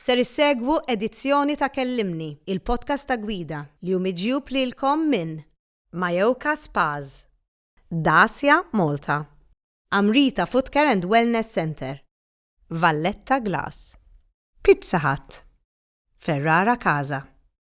Ser issegwu edizzjoni ta' Kellimni, il-podcast ta' gwida, li hu miġjub lilkom minn Mayoka Spas, Dacia Malta, Amrita Footcare and Wellness Centre, Valletta Glass, Pizza Hut, Ferrara Casa,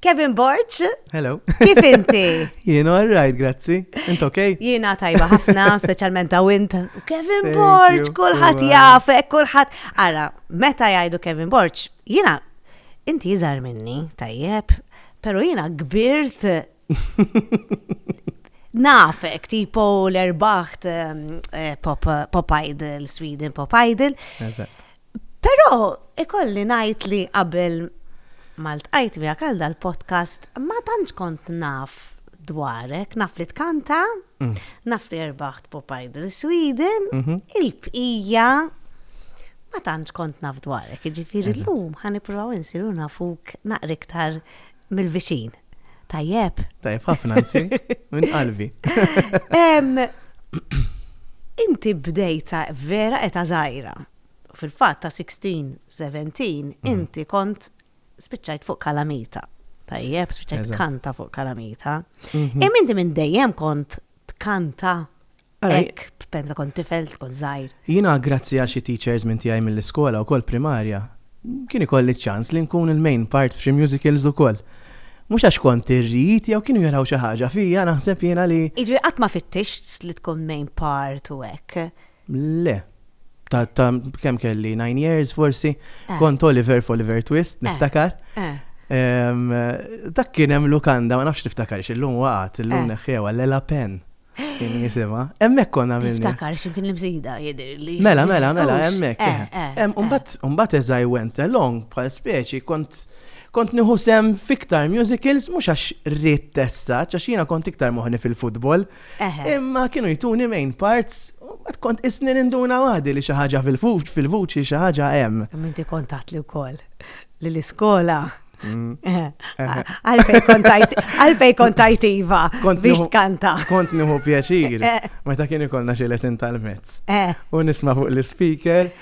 Kevin Borch. Hello. Kif inti? Jien all right, grazzi. Int ok? Jiena tajba ħafna, speċjalment ta' wint. Kevin Borch, kulħadd jafek, kulħadd. Ara, meta jgħidu Kevin Borch, jiena inti jiżar minni, tajjeb, pero jiena kbirt nafek, tipo l-erbaħt ehm, eh, pop, pop Idol, Sweden Pop Idol. Eżatt. Pero ikolli najt li qabel malt għajt mi għakal dal-podcast ma tantx kont naf dwarek, naf li tkanta, mm. naf li erbaħt Pop Idol Sweden, mhm. il-bqija ma tantx kont naf dwarek, ġifiri l-lum ħan iprovaw insiru nafuk naqriktar Mill-viċin. Tajjeb. Tajjeb ħafna nsi, minn qalbi. Inti bdejta vera eta zaħira. Fil-fatt ta' 16, 17, mm. inti kont spiċċajt fuq kalamita. Tajjeb, spiċċajt kanta fuq kalamita. Mhm. Im inti minn dejjem kont tkanta hekk meta kont tifel, kont żgħir. Jiena grazzi għal xi teachers minn tiegħi mill-iskola wkoll primarja, kien ikolli ċ-ċans li nkun il-main part f'xi musicals ukoll. Mhux għax kont irrid jew kienu jaraw xi ħaġa fija naħseb jiena li. Jiġifieri qatt ma fittixt li tkun main part u hekk? Le. Ta' ta' kemm kelli 9 years forsi, Eh. kont Oliver f'Oliver Twist, niftakar. Eh. Em, Dak kien hemm lukanda, ma nafx tiftakarx, illum waqgħet, illum Eh. neħħewa, Lela Pen kien jisimha. Hemmhekk konna għamilni. Niftakar x'imkien l-imsida jidhirli. Mela, mela, mela, Hux, hemmhekk. eh, eh, eh, Em, eh. Umbat, umbat as I went along, bħal speċi, kont kont nieħu sem fiktar musicals, mhux għax rrid tessa, għax jiena kont iktar moħni fil-futbol, Imma kienu jtuni main parts, għad kont isni ninduna għadi li xaħġa fil-vuċi xaħġa hemm. Minti kontat li wkoll li l-iskola. Mm. Għalfej kontajt iva biex tkanta. Kont nieħu pjaċir, eh. meta kien ikollna xi lesin tal-mezz. Eh. U nisma' fuq l-speaker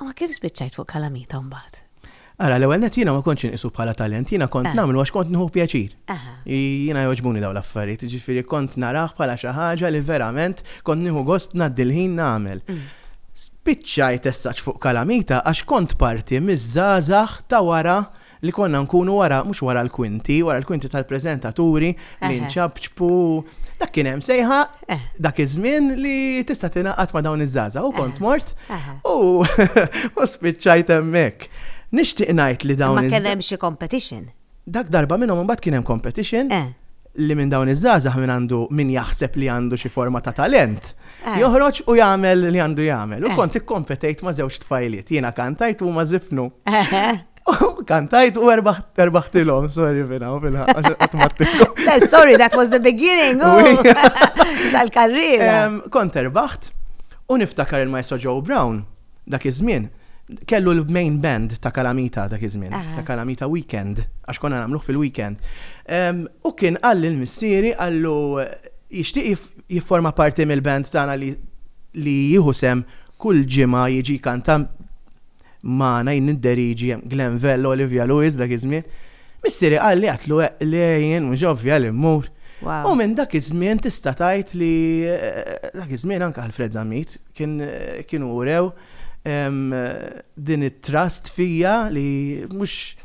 Ma kif spiċċajt fuq kalamita mbagħad? Ara, l-ewwel net jiena ma kontx inqisu bħala talent, jiena kont eh. nagħmlu għax kont nħu pjaċir. Eh. Jiena jogħġbuni dawn l-affarijiet, ġifieri kont narah bħala xi ħaġa li verament kont nieħu gost ngħaddi l-ħin nagħmel. Mm. Spiċċajt essaċ fuq kalamita għax kont parti miż-żgħażagħ ta' wara Li konna nkunu wara, mhux wara l-kwinti, wara l-kwinti tal-preżentaturi li nċabċbu. Dak kien hemm sejħa eh. dak iż-żmien li tista' tingħaqad ma' dawn iż-żgħażagħ u eh. kont mort eh. u spiċċajt hemmhekk. Nixtieq ngħid li dawn. Ma kien hemm xi competition. Dak darba minnhom imbagħad kien hemm competition li minn dawn iż-żgħażagħ minn għandu min jaħseb li għandu xi forma ta' talent. Eh. Joħroġ u jagħmel li għandu jagħmel. U eh. kont ikkompetejt ma' żewġ tfajliet, jiena kantajt u ma' zifnu. Eh. Kantajt u erbaħtilom, sorry fina, u fina, għatmattilom. Sorry, that was the beginning oh. tal-karriera. Kont erbaħt u niftakar il-maestro Joe Brown dak iż-żmien kellu l-main band ta' Kalamita dak iż-żmien, ta' Kalamita Weekend, għax konna nagħmluh fil-weekend. U kien għall il-missieri għallu jixtieq jifforma parti mill-band tagħna li jieħu sem kull ġimgħa jiġi kanta magħna, jien nidderieġi hemm Glen Vello, Olivia Lewis dak iż-żmien. Missieri qalli għedt lu eqq le jien mhux ovvja li mmur. U minn dak iż-żmien tista' tgħid li dak iż-żmien anke Alfred Zammit kien kienu urew din it-trust fija li mhux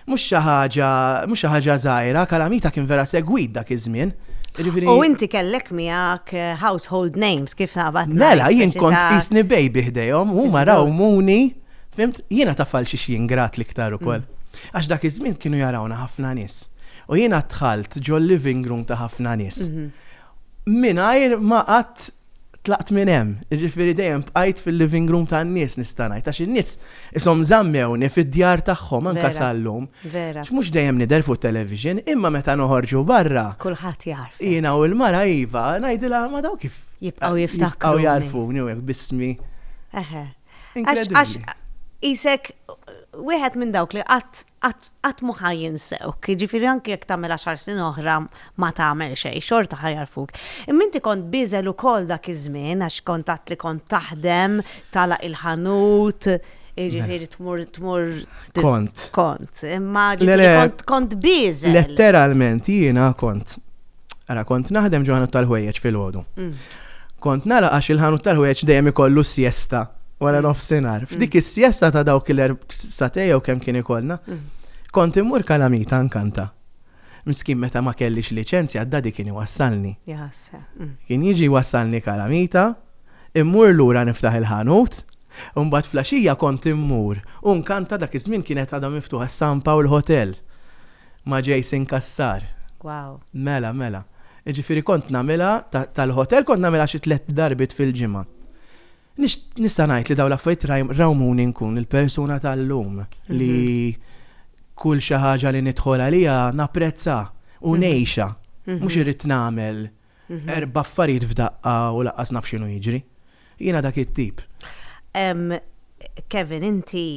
Mhux xi ħaġa, mhux xi ħaġa żgħira, Calamita kien vera segwit dak iż-żmien. Jiġifieri U inti kellek miegħek household names kif naqbad ngħid. Mela, jien speċi kont ta' qisni baby ħdejhom, huma Iżgur. rawmuni, fhimt? Jiena taf għal xiex jien grat l-iktar ukoll. Għax dak iż-żmien kienu jarawna ħafna nies. U jiena dħalt ġol-living room ta' ħafna nies mingħajr ma qatt tlaqt minn hemm, jiġifieri dejjem bqajt fil-living room tan-nies nista' ngħid għax in-nies ishom żammewni fid-djar tagħhom anke sal-lum. Vera. Mhux dejjem nidher fuq it-television, imma meta noħorġu barra. Kulħadd jagħrfek. Jiena u l-mara iva, ngħidilha ma daw kif. Jibqgħu jiftakruni. Jibqgħu jagħrfuni u hekk b'ismi. Eħe. Għax qisek wieħed minn dawk li qatt qatt qatt mhu ħa jinsewk. Jiġifieri anki jekk tagħmel għaxar snin oħra ma tagħmel xejn, xorta ħa jagħrfuk. Imma inti kont bieżel ukoll dak iż-żmien għax kont għedt li kont taħdem, tagħlaq il-ħanut, jiġifieri tmur tmur Kont. Kont, imma Le, le. ġifieri kont kont bieżel. Letteralment jiena kont Ara, kont naħdem ġo ħanut tal-ħwejjeġ fil-ħodu. Mm. Kont nara għax il-ħanut tal-ħwejjeġ dejjem ikollu s-siesta wara mm. nofsinhar. Mm. F'dik is-siesta ta' dawk il satej jew kemm kien ikollna, kont immur kalamita nkanta. Miskin meta ma kellix liċenzja d-dadi kien iwassalni. Kien jiġi wassalni kalamita, immur lura niftaħ il-ħanut, Umbat flaxija kont immur, un kanta dak iż-żmien kienet għadha miftuħa s-San Pawl Hotel. Ma' Jason Cassar. Wow. Mela, mela. Jiġifieri kont nagħmilha tal-ħotel kont nagħmilha xi tlett darbiet fil-ġimgħa. Nista' ngħid li dawn l-affarijiet rawmuni nkun il-persuna tal-lum li kull xi ħaġa li nidħol għaliha napprezza u ngħixha. Mhux irrid nagħmel erba' affarijiet f'daqqa u lanqas naf x'inhu jiġri. Jiena dak it-tip. Kevin, inti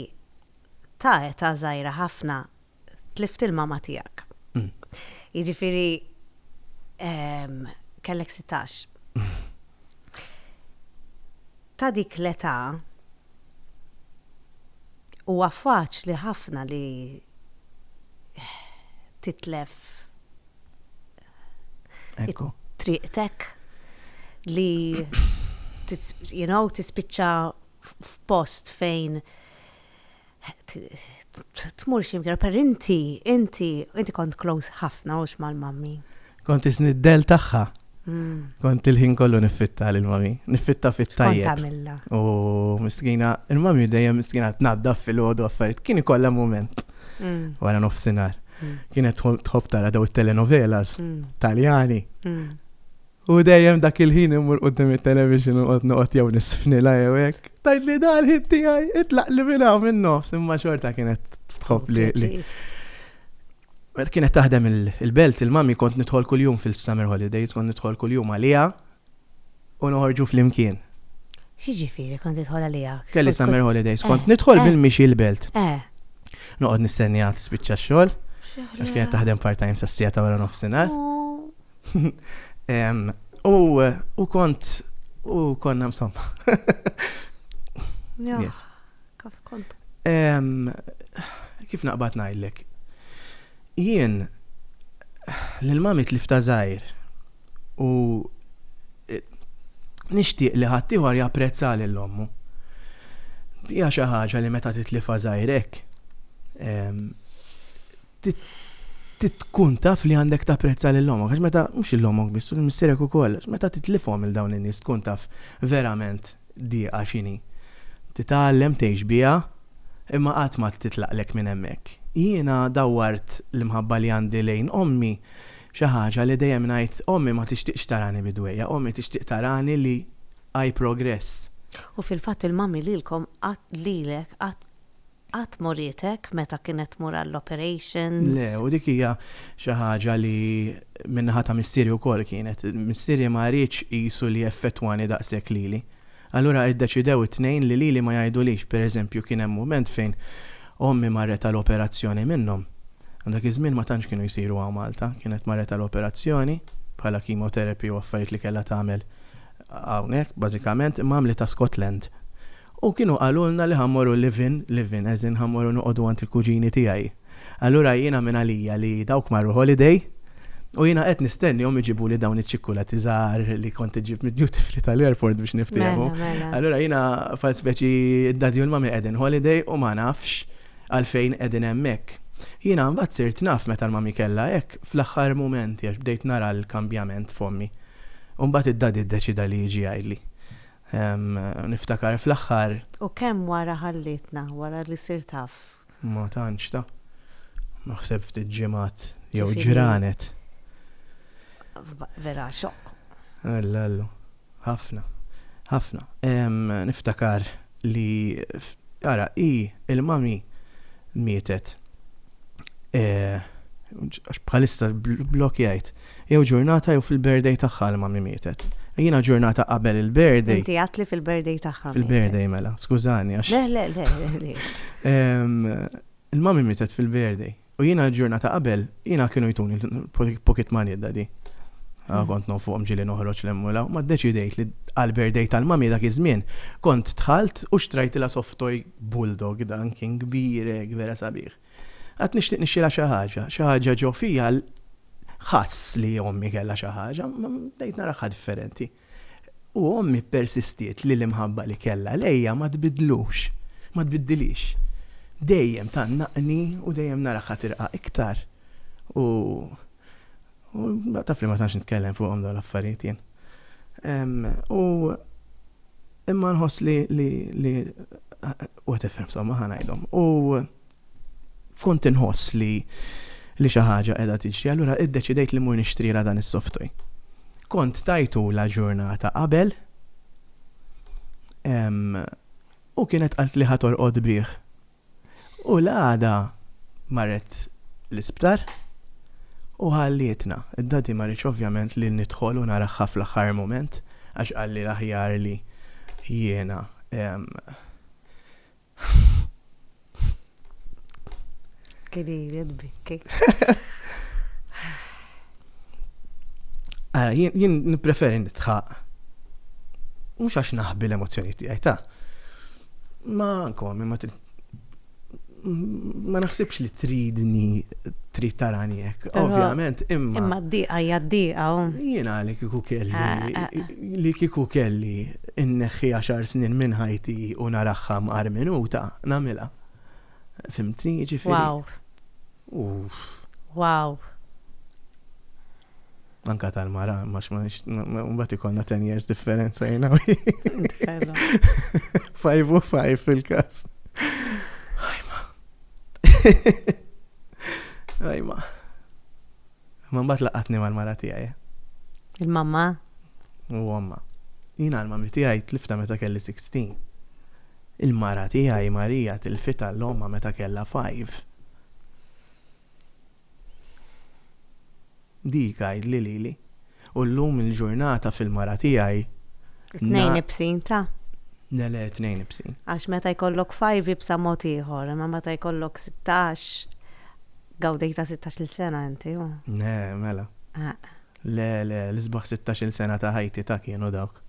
ta' età żgħira ħafna tlift il-mama tiegħek. Mm. Jiġifieri ehm, kellek 16. Ta' dik l-età huwa faċli ħafna li titlef Ekku. triqtek li you know, tispiċċa f'post fejn tmur ximkien, per inti, inti, inti kont close ħafna ux mal-mammi. Kont isni d-del taħħa. Mm. Kont il-ħin kollu niffitta l-mami, niffitta fit-tajja. Kont għamilla. U miskina, il-mami dejjem miskina t-naddaf fil-ħodu għaffariet, kien ikolla moment. Mm. Wara nofsinar. Mm. Kienet tħob tara daw il-telenovelas, taljani. U dejjem dak il-ħin immur qudiem it-television u noqgħod jew nisfnila jew hekk. Tajt li dan ħin tiegħi itlaq li minn hawn minn nofs imma xorta kienet tħobb li. Meta kienet taħdem il-belt il-mami kont nidħol kuljum fil-summer holidays, kont nidħol kuljum għaliha u noħorġu flimkien. X'jiġifieri kont nidħol għaliha? Kelli summer holidays, kont eh, nidħol eh. bil-mixi l-belt. Eh. Noqgħod nistennija tispiċċa x-xogħol. Għax kienet taħdem part-time sassija ta' wara nofsinhar. Oh. U u kont u konna insomma. Yes. Kont. Kif naqbad ngħidlek? Jien lil mami tlif ta' żgħir u e, nixtieq li ħaddieħor japprezza lil ommu. Dija xi ħaġa li meta titlifa żgħirek trid tkun taf li għandek tapprezza lil ommok għax meta, mhux lil ommok biss, lil missierek ukoll, għax meta titlifhom lil dawn in-nies tkun taf verament dieqa x'inhi. Titgħallem tgħix biha imma qatt ma titlaqlek minn hemmhekk. Jiena dawwart l-imħabba li għandi lejn ommi xi ħaġa li dejjem ngħid ommi ma tixtieqx tarani bi dwejjaq, ommi tixtieq tarani li I progress. U fil-fatt il-mummy lilkom qatt, lilek qatt Qatt murietek meta kienet tmur għall-operations? Le, u dik hija xi ħaġa li min-naħa ta' missieri wkoll kienet. Missieri ma riedx qisu li jeffettwani daqshekk lili. Allura iddeċidew it-tnejn li lili ma jgħidulix. Pereżempju, kien hemm mument fejn ommi marret għal operazzjoni minnhom. Dak iż-żmien ma tantx kienu jsiru hawn Malta. Kienet marret għal operazzjoni, bħala chemotherapy u affarijiet li kellha tagħmel hawnhekk, bażikament, imma għamlitha Scotland. U kienu qalulna li ħa mmorru live-in, live-in as in ħa mmorru noqogħdu għand il-kuġini tiegħi. Allura jiena minn għalija li dawk marru holiday u jiena qed nistennihom iġibuli dawn iċ-ċikkulati żgħar li kont iġġib mid-duty free tal-airport biex niftiehmu. Allura jiena bħal speċi d-daddy u l-mummy qegħdin holiday u ma nafx għalfejn qegħdin hemmhekk. Jiena mbagħad sirt naf meta l-mummy kellha hekk fl-aħħar mumenti għax bdejt nara l-kambjament f'ommi. U mbagħad id-daddy ddeċida li jiġi jgħidli. Niftakar fl-aħħar. U kemm wara ħallietna, wara li sirt af. Ma tantx ta. Naħseb ftit ġimgħat jew ġranet. Vera xokk. Alla Alla. Ħafna. Ħafna. Niftakar li ara hi l-mami mietet. Għax bħalissa bl-blokk jgħid. Jew ġurnata jew fil-birthday tagħha li mummy mietet. Jiena ġurnata qabel il-birthday. Inti għadt li fil-birthday tagħha. Fil-birthday mela, skużani għax. Le, le, le. Il-mummy mietet fil-birthday. U jiena ġurnata qabel, jiena kienu jtuni pocket money d-daddy. Ah, mm. Kont nofuqhom ġili noħroġ l-emmula, ma ddeċidejt li għal-birthday tal-mami dak iż-żmien kont tħalt u xtrajt la softoj bulldog dan kien kbirek vera sabiħ. Qatt nixtieq nixxilha xi ħaġa, xi ħaġa ġo fija ħass li ommi kellha xi ħaġa, bdejt naraħħa differenti. U ommi persistiet li l-imħabba li kellha lejja ma tbidlux, ma tbiddilix. Dejjem tgħannaqni u dejjem naraħħa tirqa' iktar. U U taf li ma tantx nitkellem fuqhom dawn l-affarijiet jien. U imma nħoss li li li u tifhem somma ħanajdhom. U kont inħoss li li xi ħaġa qiegħda tiġri, allura iddeċidejt li mur nixtrila dan is-softoj. Kont tajtu la ġurnata qabel u kienet qalt li ħatorqod bih U l-għada marret l-isptar u ħallietna. Id-Daddy ma riedx ovvjament li nidħol u naraha fl-aħħar mument għax qalli l-aħjar li jiena Ara, jien nippreferi nidħaq. Mhux għax naħbi l-emozzjonijiet tiegħi, ta. Magħkom, imma trid ma naħsibx li tridni trid tarani hekk. Ovvjament, imma. Imma d-diqa hija d-diqa. Jien għalek kieku kelli eh, eh, eh. li kieku kelli inneħħi għaxar snin minn ħajti u naraħħa mqar minuta nagħmilha. Fimtni jiġifieri. Wow. Wow. Anka tal-mara, ma xmanix, mbat ikonna 10 years differenza jena. Five u five fil-kas. Ajma. Ajma. Ma mbat laqatni mal-mara tijaj. Il-mamma? U għamma. Jina għalma mi tijaj tlifta meta kelli 16. Il-mara tijaj Marija til-fita l-omma meta kella 5. Dik għidli lili. U llum il-ġurnata fil-mara tiegħi. Tnejn ibsin, ta? Le, le, tnejn ibsin. Għax meta jkollok five ibsa mod ieħor, imma meta jkollok sittax, gawdejtha sittax-il sena inti, hu? Le, mela. Le, le, l-isbaħ sittax-il sena ta' ħajti ta' kienu dawk.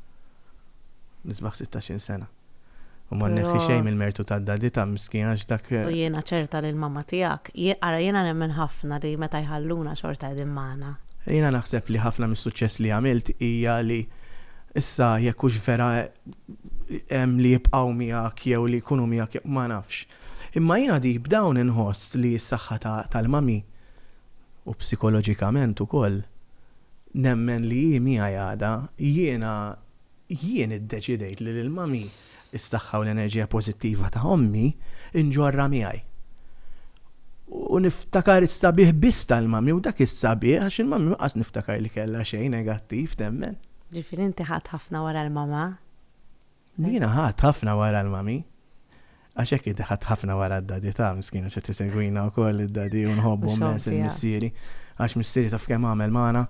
L-isbaħ sittax-il sena. U ma nneħħi Però- xejn mill-mertu tad-Daddy ta' miskin għax dak U jiena ċerta li l-mamma tiegħek, jien- ara jiena nemmen ħafna li meta jħalluna xorta qegħdin magħna. Jiena naħseb li ħafna mis-suċċess li għamilt hija li issa jekk hux vera hemm li jibqgħu miegħek jew li jkunu miegħek jew ma nafx. Imma jiena deep down inħoss li s-saħħa ta' tal-mami u psikoloġikament ukoll nemmen li hi miegħi għada. Jiena Jien iddeċidejt li lil Mummy, is-saħħa u l-enerġija pożittiva ta' ommi, inġorrha miegħi. U niftakar is-sabiħ biss tal-Mummy u dak is-sabiħ għax il-Mummy ma qas niftakar li kellha xejn negattiv, temmen. Ġifieri inti ħadt ħafna wara l-Mama? Jiena ħadt ħafna wara l-Mummy. Għax hekk hi teħad ħafna wara d-Daddy tagħha, miskina x'qed isegwina wkoll id-Daddy u nħobbu mmens lil missieri. Għax missieri taf kemm għamel magħna.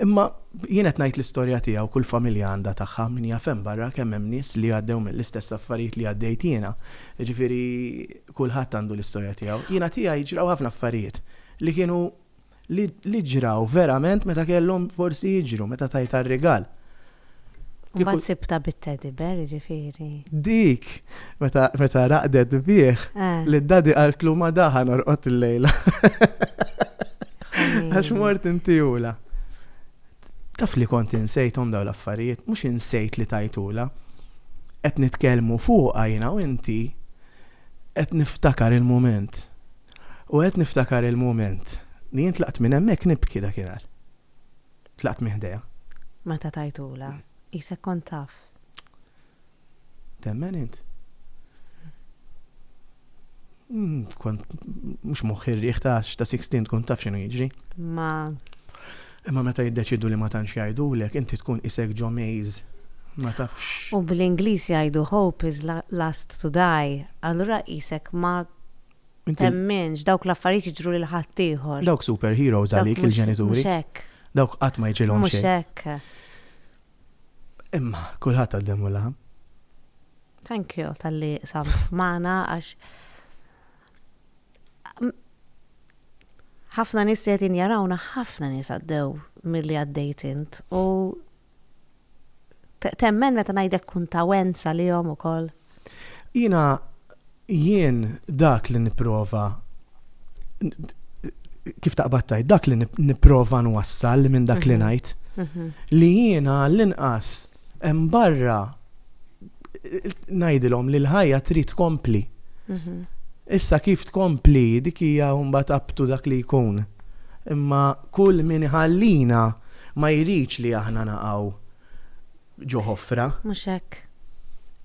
Imma jien qed ngħid l-istorja tiegħi u kull familja għandha tagħha, min jaf hemm barra kemm hemm nies li għaddew mill-istess affarijiet li għaddejt jiena. Jiġifieri kulħadd għandu l-istorja tiegħu. Jiena tiegħi ġraw ħafna affarijiet li kienu li ġraw verament meta kellhom forsi jiġru, meta tajtha r-rigal. Imbagħad sibtha bit-teddy bear, jiġifieri. Dik, meta raqdet bih, li d-daddy qaltlu ma da ħa norqod illejla. Għax mort intihulha. Taf li kont insejthom dawn l-affarijiet, mhux insejt li tajthulha. Qed nitkellmu fuqha jiena u inti, qed niftakar il-mument. U qed niftakar il-mument li jien tlaqt minn hemmhekk nibki dakinhar. Tlaqt minn ħdejha. Meta tajtulha, qisek kont taf. Temmen int? Mm, kont mhux moħħi rriħ ta' ta' 16 tkun taf x'inhu jiġri. Ma. Imma meta jiddeċidu li ma tantx jgħidulek, inti tkun isek ġo maze. Ma tafx. U bl-Ingliż jgħidu hope is last to die, allura qisek ma Temminx, dawk l-affarijiet jiġru lil ħaddieħor. Dawk super heroes għalik il-ġenituri. Mhux hekk. Dawk qatt ma jiġilhom xejn. Mhux hekk. Imma kulħadd għaddem u laħam. Thank you tal-li samt magħna għax ħafna nies qed jarawna ħafna nies għaddew milli għaddejt int u Temmen meta ngħidlek kun ta' wens għalihom ukoll? Jiena jien dak li nipprova kif taqbad tajt, dak li nipprova nwassal minn dak li mhm. ngħid. Mhm. Li jiena l-inqas hemm barra ngħidilhom li l-ħajja trid tkompli. Mhm. Issa kif tkompli dik hija mbagħad abtu dak li jkun. Imma kull min iħallina ma jridx li aħna naqgħu ġo ħofra. Mhux hekk.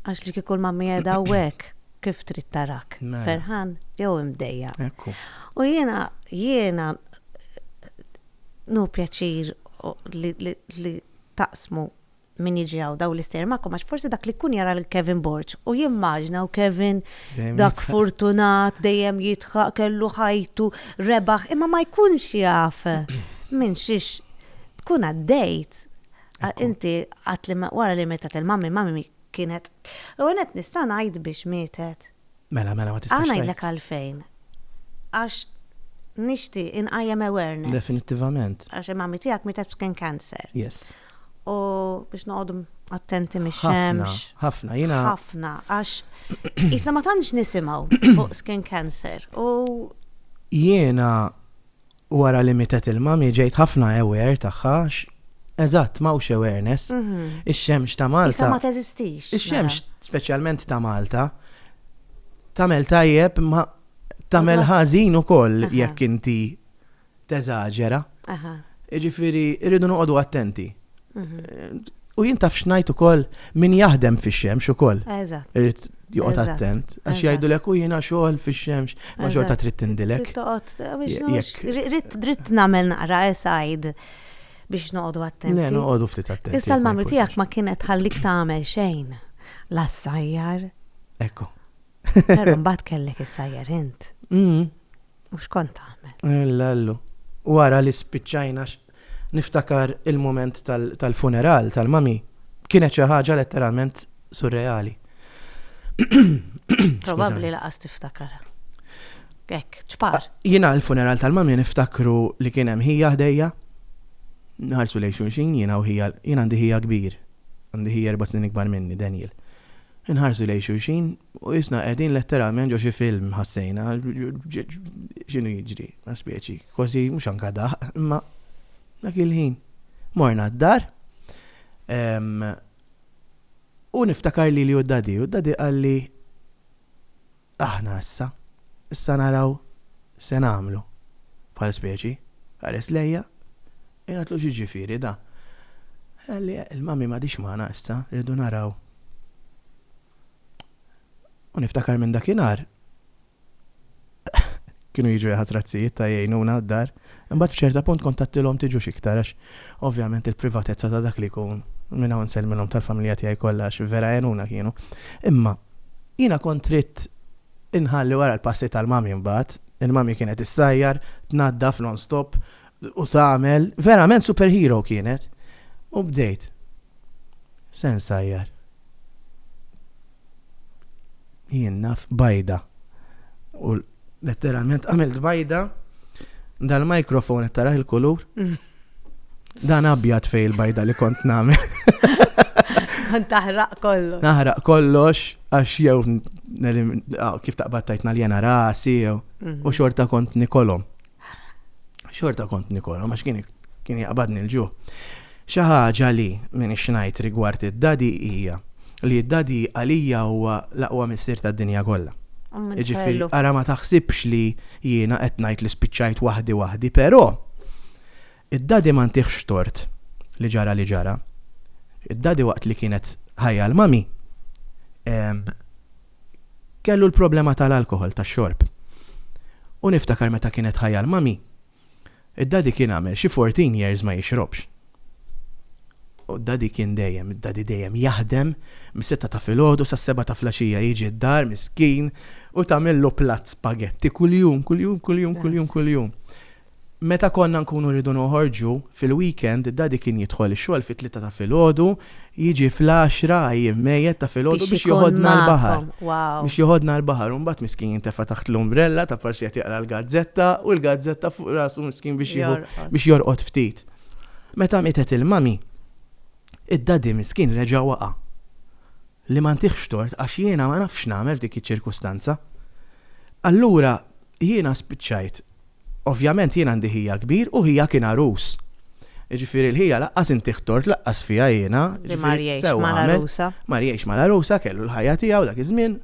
Għax li kieku l-mamma qiegħda hawnhekk kif trid tarak? Mela. Ferħan jew imdejja. Ekku. U jiena jiena nu pjaċir li taqsmu min jiġi hawn daw l-istejjer magħkom għax forsi dak li jkun jara lil Kevin Borg u jimmaġna u Kevin dak fortunat dejjem jitħaq kellu ħajtu rebaħ imma ma jkunx jaf minn xiex tkun għaddejt. Inti għat li wara li mietet il-mammi, mammi kienet. U għanet nista' ngħid biex mietet. Mela, mela, ma tistax. Għana jidlek għalfejn. Għax nishti inqajem awareness. Definitivament. Għax mammi tijak mietet b'skin cancer. Yes. u biex noqogħdu attenti mix-xemx. Ħafna, jiena. Ħafna, għax jisna ma tantx nisimgħu fuq skin cancer. U jiena wara li mitet il-mami ġejt ħafna aware tagħha Eżatt, mawx awareness. Mhm. Ix-xemx ta' Malta. Issa ma teżistix. Ix-xemx, mela. speċjalment ta' Malta, tamel tajjeb ma tamel ħażin ukoll jekk inti teżaġera. Jiġifieri rridu noqogħdu attenti. Mhm. U jien taf xnajt ukoll min jaħdem fix-xemx ukoll. Eżatt. Irid joqgħod attent. Għax jgħidu lek u jiena xogħol fix-xemx, ma xorta trid tindilek. Rrid nagħmel naqra esajd biex noqogħdu attenti. Le, noqogħdu ftit attenti. Issa l-mamri tiegħek ma kienet ħallik tagħmel xejn. Lassajjar. Ekku. Pero mbagħad kellek issajjar int. Mm. U xkont tagħmel? Illa llu. Wara li spiċċajna niftakar il-mument tal-funeral tal-mami kienet xi ħaġa letteralment surreali. Probabbli laqas tiftakara. Ek, ċpar. Ah, jina l-funeral tal-mami niftakru li kien hemm ħija ħdejja. Nħarsu lejn xulxin jina u ħija, jina għandi ħija kbir. Għandi ħija erba' snin ikbar minni, Daniel. Inħarsu lejn xulxin u qisna qegħdin letteralment ġo xi film, ħassejna. X'inhu jiġri? Ma specie, kważi mhux anka daħq, imma dak il-ħin. Morna d-dar u niftakar lili u d-dadi u d-dadi qalli Aħna issa, issa naraw x'se nagħmlu bħal speċi. Ħares lejja, u jgħidlu x'jiġifieri da? Qalli il-Mummy m'għadhiex magħna issa, irridu naraw. U niftakar minn dakinhar Kienu jiġu jaħat razzijiet ta' jgħinuna għad-dar. Imbagħad f'ċerta punt kont għedtilhom tiġux iktar għax ovvjament il-privatezza ta' dak li jkun. Minn hawn nsellmilhom tal-familja tiegħi kollha għax vera għenuna kienu. Imma jiena kont ridt inħalli wara l-passi tal-Mummy mbagħad. Il-Mummy kienet issajjar, tnaddaf non-stop u tagħmel verament superhero kienet u bdejt sen sajjar jien naf bajda u letteralment għamilt bajda dal-mikrofon qed taraħ il-kulur dan abjad fej il-bajda li kont nagħmel Kont taħraq kollox. Naħraq kollox għax jew kif taqbad tajtna l-jena rasi jew u xorta kont nikolom. Xorta kont nikolhom għax kien kien jaqbadni l-ġuħ. Xi ħaġa li minix ngħid rigward id-Dadi hija li d-Dadi għalija huwa l-aqwa missier tad-dinja kollha. Jiġifieri ara ma taħsibx li jiena qed ngħid li spiċċajt waħdi waħdi, però Id-Daddy ma ntiehx tort li ġara li ġara. Id-Daddy waqt li kienet ħajja l-Mummy kellu l-problema tal-alkoħol, tax-xorb. U niftakar meta kienet ħajja l-Mummy, id-Daddy kien għamel xi fourteen years ma jixrobx. U d-Daddy kien dejjem, id-Daddy dejjem jaħdem mis-sitta ta' filgħodu sas-sebgħa ta' flaxija jiġi d-dar miskin u tagħmillu platt spaghetti kuljum, kuljum, kuljum, kuljum, kuljum. Meta konna nkunu rridu noħorġu fil-weekend, Daddy kien jidħol ix-xogħol fit-tlieta ta' filgħodu, jiġi fl-għaxra għajjien mejjet ta' filgħodu biex joħodna l-baħar. Biex joħodna l-baħar u mbagħad miskin jintefa' taħt l-umbrella ta' forsi qed jaqra l-gazzetta u l-gazzetta fuq rasu miskin biex jieħu biex jorqod ftit. Meta mietet il-mummy, id-daddy miskin reġa' waqa'. Li ma ntihx tort għax jiena ma nafx x'nagħmel f'dik iċ-ċirkustanza. Allura jiena spiċċajt Ovvjament jien għandi ħija kbir u ħija kien għarus. Jiġifieri l-ħija laqqas intih tort laqqas fiha jiena. Li mar jgħix mal-għarusa. Mar jgħix mal-għarusa kellu l-ħajja tiegħu dak iż-żmien.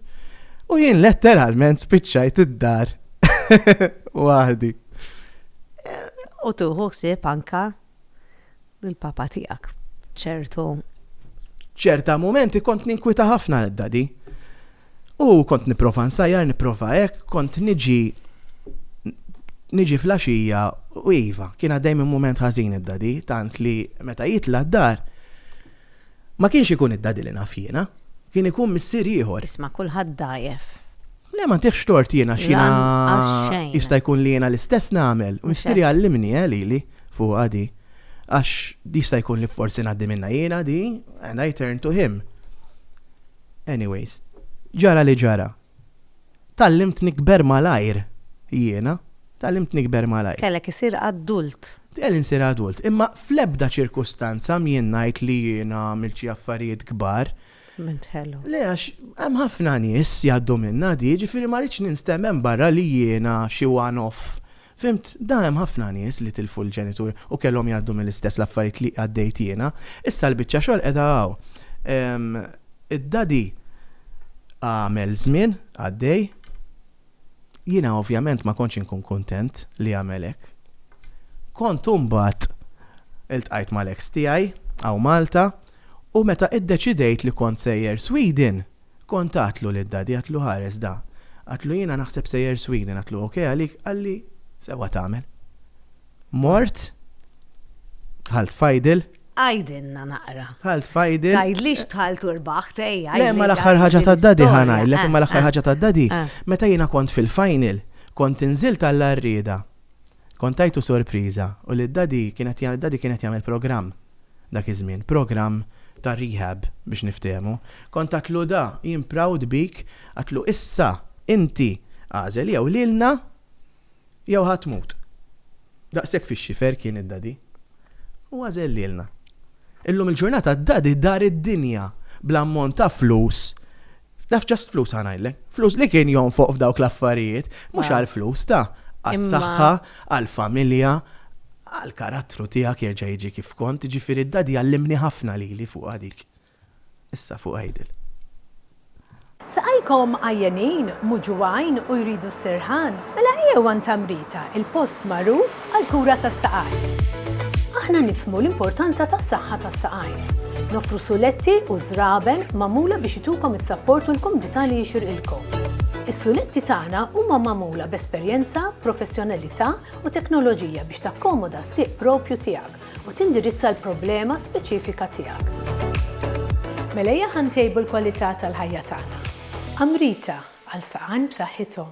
U jien letteralment spiċċajt id-dar waħdi. U tieħu ħsieb anke Bil-papa tiegħek, ċertu. Ċerta momenti kont ninkwita ħafna l-dadi. U kont niprofa nsajjar, niprofa hekk, kont niġi niġi flaxija u iva, kien għaddej minn moment ħażin id-dadi, tant li meta jitla d-dar, Ma kienx ikun id-daddy li naf jiena. Kien ikun missier ieħor. Isma' kulħadd dgħajjef. Le ma ntihx tort jien għax jiena jista' jkun li jiena l-istess nagħmel u missieri għallimni eh lili fuqha di għax jista' jkun li forsi ngħaddi minnha jiena di and I turned to him. Anyways, ġara li ġara. Tgħallimt nikber malajr jiena. Tgħallimt nikber malajr. Kellek isir adult. Kelli nsir adult. Imma fl-ebda ċirkustanza m'jien ngħid li jiena għamilt xi affarijiet kbar. Minn tħelu. Le għax hemm ħafna nies jgħaddu minnha di, jiġifieri ma rridx ninstem hemm barra li jiena xi one off Fhimt, da hemm ħafna nies li tilfu l-ġenitur u kellhom jgħaddu mill-istess l-affarijiet li għaddejt jiena. Issa l-biċċa xogħol qiegħda hawn. Ehm, id-Daddy għamel żmien għaddej. Jiena ovvjament ma kontx inkun kuntent li għamel hekk. Kont imbagħad iltqajt mal-eks tiegħi hawn Malta u meta iddeċidejt li kont sejjer Sweden, Kont għadtlu lil Daddy għadtlu ħares da. Għadtlu jiena naħseb sejjer Sweden għadtlu ok għalik qalli sewwa tagħmel. Mort dħalt f'idle. Għidilna naqra. Dħalt f'idle. Tgħidlix dħalt u rbaħt ejja. Le ma l-aħħar ħaġa ta' Daddy ħa ngħidlek imma l-aħħar ħaġa ta' Daddy meta jiena kont fil-final kont inżilt għall-għarrieda. Kont tajtu sorpriża u li Daddy kien qed jagħmel Daddy kien qed jagħmel programm dak iż-żmien, programm ta' rehab biex niftehmu. Kont għadtlu da, jien proud bik, għadtlu issa inti agħżel jew lilna jew ħa tmut. Daqshekk fix-xifer kien id-Daddy. U għażel lilna. Illum il-ġurnata d-Daddy dar id-dinja bl-ammont ta' flus Naf ġast flus għanajlek. Flus li kien jonfoq f'dawk l-affarijiet, mhux għal flus ta' għas-saħħa, għall-familja, għall-karattru tiegħek jerġa' jiġi kif kont, ġifieri d-dadi għallimni ħafna lili fuq dik. Issa fuq għidil. Saqajkom għajjenin, muġugħin u jridu s-sirħan? Mela ejjew għand Amrita, il-post magħruf għall-kura tas-saqajn. Aħna nifhmu l-importanza tas-saħħa tas-saqajn. Noffru suletti u żraben magħmula biex itukom is-sapport u l-kumdità li jixirqilkom. Is-suletti tagħna huma magħmula b'esperjenza, professjonalità u teknoloġija biex takkomoda s-sieq proprju tiegħek u tindirizza l-problema speċifika tiegħek. Mela ejja ħa ntejbu l-kwalità tal-ħajja tagħna. Amrita, għal saqajn b'saħħithom.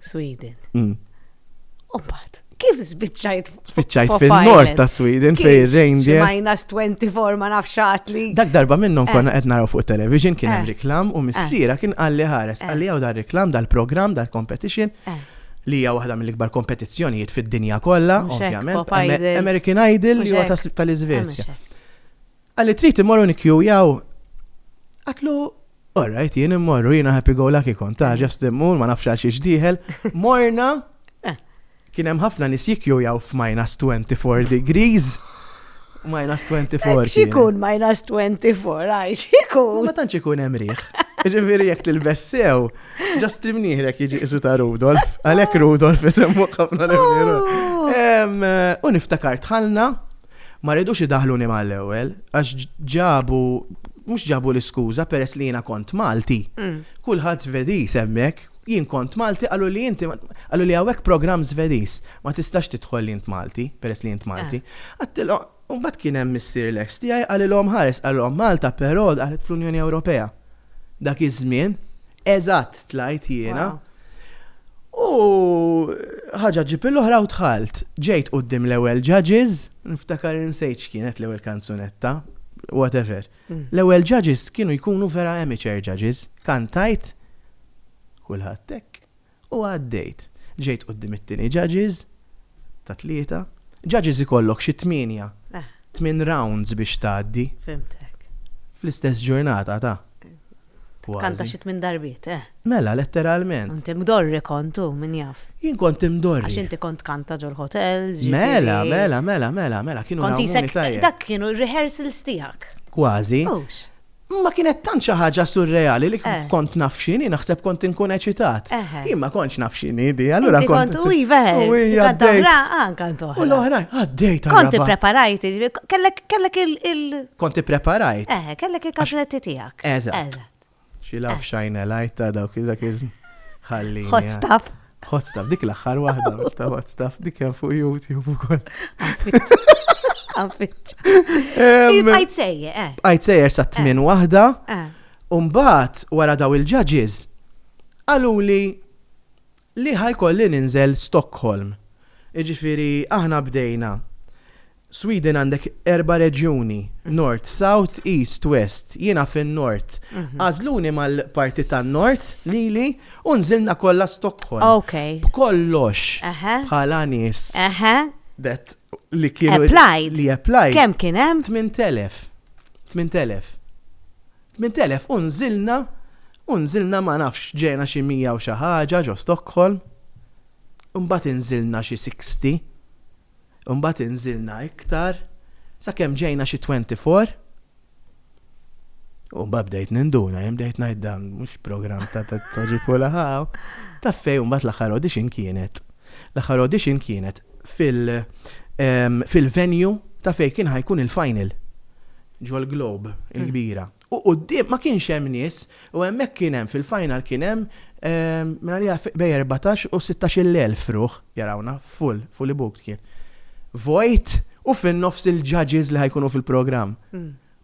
Sweden. Mm. U mbagħad kif spiċċajt spiċċajt fil-nord ta' Sweden fej reindeer. Minus 24 ma nafx li. Dak darba minnhom eh. konna qed naraw fuq television kien hemm eh. reklam u eh. missiera kien qalli ħares qalli hawn dar reklam dal-programm dal-competition li hija waħda mill-ikbar kompetizzjonijiet fid-dinja kollha, ovvjament. American Idol li huwa tal-Iżvezja. Qalli trid immorru nikkjujaw? Għatlu, all right, jien immorru, jiena happy go lucky kont, ta' ġast mm. immur, ma nafx għal xiex diħel. Morna, eh. kien hemm ħafna nis jikkjujaw f'minus 24 degrees. Minus 24. Eh, xikun minus 24, għaj, xikun. Ma tantx ikun hemm riħ. Ġifieri jekk tilbessew, ġast imnieħrek jiġi isu ta' Rudolf, għalhekk Rudolf isemmu ħafna l-imnieru. Oh. Eh, u niftakar tħalna Ma ridux idaħħluni mal-ewwel għax ġabu, mhux ġabu l-iskuża peress li jiena kont Malti. Kulħadd Svediż hemmhekk, jien kont Malti qaluli inti qaluli hawnhekk programm Svediż, ma tistax tidħol li int Malti peress li int Malti. Għedtilhom, u mbagħad kien hemm missier l-eks tiegħi qalilhom ħares, qalilhom Malta però daħlet fl-Unjoni Ewropea. Dak iż-żmien, Eżatt tlajt jiena. U ħaġa ġib l-oħra u tħalt. Ġejt qudiem l-ewwel judges, niftakar insejt x'kienet l-ewwel kanzunetta, whatever. Mm. L-ewwel judges kienu jkunu vera amateur judges. Kantajt kulħadd hekk. U għaddejt. Ġejt quddiem it-tieni judges, ta' tlieta. Judges ikollok xi tmienja, tmien rounds biex tgħaddi. Fhimtek. Fl-istess ġurnata ta'. Kważi. Kanta xi tmien darbiet, eh. Mela, letteralment. Int imdorri kont u, min jaf. Jien kont imdorri. Għax inti kont tkanta ġol hotels, ġifieri. Mela, mela, mela, mela, mela, kienu jrawmuni tajjeb. Kont qisek, dak kienu r-rehearsals tiegħek. Kważi. Hux. Imma kienet tant xi ħaġa surreali li kont naf x'inhi, naħseb kont inkun eċitat. Jien ma kontx naf x'inhi di, allura kont. U iva, għadda anka ntoħ. U l-oħra, għaddejt. Kont ippreparajt, kellek il. Kont ippreparajt. Eh, kellek il-kaxletti tiegħek. Eżatt. Xi laf xajna lajta dawk iż-żakizm. Ħalli. Hot stuff. Hot stuff, dik l-axħar wahda, mux ta' hot stuff, dik jen fuq YouTube u koll. Bqajt sejje, eh. Bqajt sejje sa' tmin eh. wahda. Eh. Umbat, wara daw il-ġaġiz, għalu li li ħajkolli ninżel Stockholm. Iġifiri, aħna bdejna Sweden għandek erba' reġjuni, Nord, South, East, West, jiena fin-Nord. Għażluni mal-parti tan-Nord lili u nżilna kollha Stockholm. Okay. B'kollox. Eħe. Bħala nies. Eħe. That li kienu. Applied. Li applied. Kemm kien hemm? 8,000. 8,000. 8,000 u nżilna u nżilna ma nafx ġejna xi 100 u xi ħaġa ġo Stockholm. Imbagħad inżilna xi 60. Imbagħad inżilna iktar sakemm ġejna xi twenty four u mbagħad bdejt ninduna, jien bdejt ngħid dan mhux programm ta' toġi kulħaw. Ta' fejn mbagħad l-aħħar audition kienet. L-aħħar audition kienet fil- fil-venue ta' fejn kien ħajkun il-final ġol-Globe il-kbira. U quddiem ma kienx hemm nies u hemmhekk kien hemm fil-final kien hemm minn għaliha bejn erbatax u sittax-il elf ruħ jarawna full, fully booked kien. Vojt u fin-nofs il-judges li ħa jkunu fil-programm.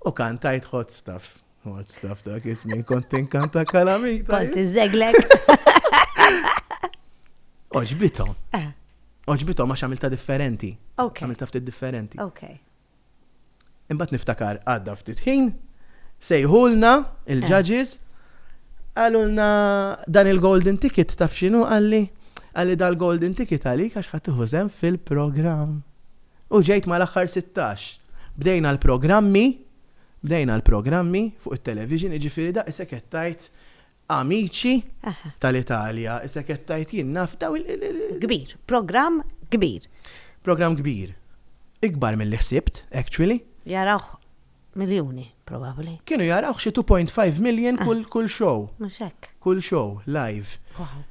U kantajt hot stuff. Hot stuff dak iż-żmien kont tinkanta kalamita. Kont inżeglek. Oġbithom. Oġbithom għax għamilta differenti. Għamilta ftit differenti. Imbagħad niftakar għadda ftit ħin, sejħulna il-judges, qalulna dan il-golden ticket taf x'inhu qalli, qalli dal-golden ticket għalik għax ħadd iħużem fil-programm. U ġejt mal-aħħar 16. Bdejna l-programmi, bdejna l-programmi fuq it-television, jiġifieri daqshekk qed tgħid Amici tal-Italja, issa qed tgħid jien naf dawn il. Kbir, programm kbir. Programm kbir. Ikbar milli ħsibt, actually. Jarawh miljuni, probabbli. Kienu jarawh xi 2.5 million kull show. Mhux hekk. Kull show, live. Wow.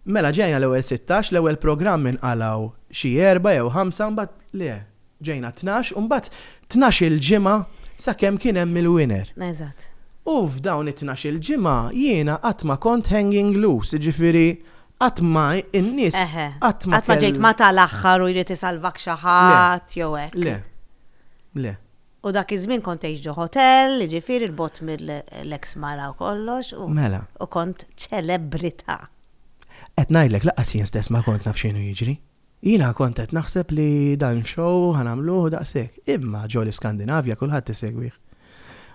Mela ġejna l-ewwel sittax, l-ewwel programm inqalgħu xi erbgħa jew ħamsa mbagħad le, Ġejna tnax u mbagħad tnax-il ġimgħa sakemm kien hemm il-winner. Eżatt. U f'dawn it-tnax-il ġimgħa jiena qatt ma kont hanging loose, jiġifieri qatt ma in-nies qatt ma kellhom. Eħe, qatt ma ġejt ma' tal-aħħar u jrid isalvak xi ħadd jew hekk. Le, le, le. U dak iż-żmien kont tgħix ġo ħotell, jiġifieri 'l bogħod mill-eks mara u kollox u. Mela. U kont ċelebrità. Qed ngħidlek lanqas jien stess ma kont naf x'inhu jiġri. Jiena kont qed naħseb li dan show ħa nagħmluh u daqshekk, imma ġo l-Iskandinavja kulħadd isegwih.